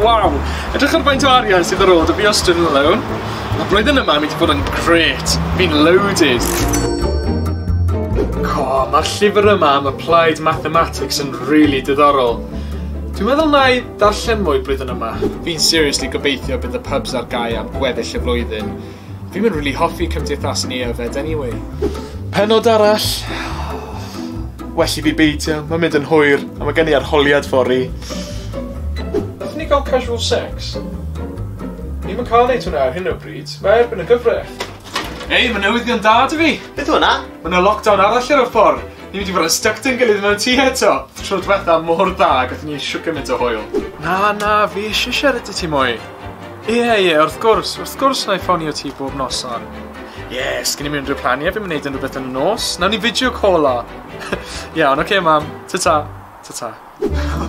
Waw! Edrych ar faint o arian sydd ar ôl da fi o Student Alone. Mae blwyddyn yma yn mynd i fod yn gret. Fi'n loaded. Co, mae'r llyfr yma am Applied Mathematics yn rili really diddorol. Dwi'n meddwl na i ddarllen mwy blwyddyn yma. Fi'n seriously gobeithio bydd y pubs ar gau am gweddill y flwyddyn. Dwi'm yn rili hoffi cymdeithas ni yfed anyway. Pennod arall. Well i fi beidio, mae'n mynd yn hwyr a mae gen i arholiad fory. Nathon ni gael casual sex? Ni'm yn cael neud hwnna ar hyn o bryd, mae erbyn y gyfraith. Ei, mae newyddion da 'da fi! Beth yw hwnna? Mae 'na lockdown arall ar y ffordd! Ni'n mynd i fod yn styc 'da'n gilydd mewn tŷ eto! Tro dwetha mor dda, gathon ni shwt gymaint o hwyl. Na, na, fi isie siarad 'da ti mwy. Ie, ie, wrth gwrs, wrth gwrs na i ffonio ti bob noson. Ie, yeah, sgyn i'n rhywbeth planiau, fi'n mynd yn rhywbeth yn y nos. Nawn ni fideo call o. Iawn, oce okay, mam, ta-ta, ta-ta.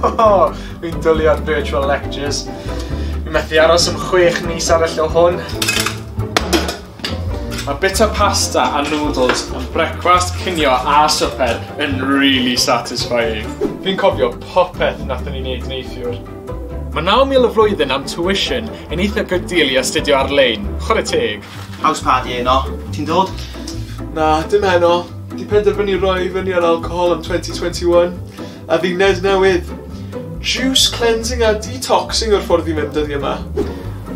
Oh, fi'n dwlu ar virtual lectures. Fi'n methu aros am chwech mis arall o hwn. Mae bita pasta a noodles yn brecwast, cinio a swper yn really satisfying. Fi'n cofio popeth nathon ni wneud neithiwr. Mae 9,000 y flwyddyn am tuition yn eitha good deal i astudio ar-lein, chwarae teg! House party heno, ti'n dod? Na, dim heno. Di penderfynu roi i fyny ar alcohol am 2021, a fi Ned newydd. Juice cleansing a detoxing yw'r ffordd i fynd dyddiau ma.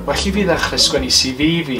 Well i fi ddechrau sgwennu CV fi.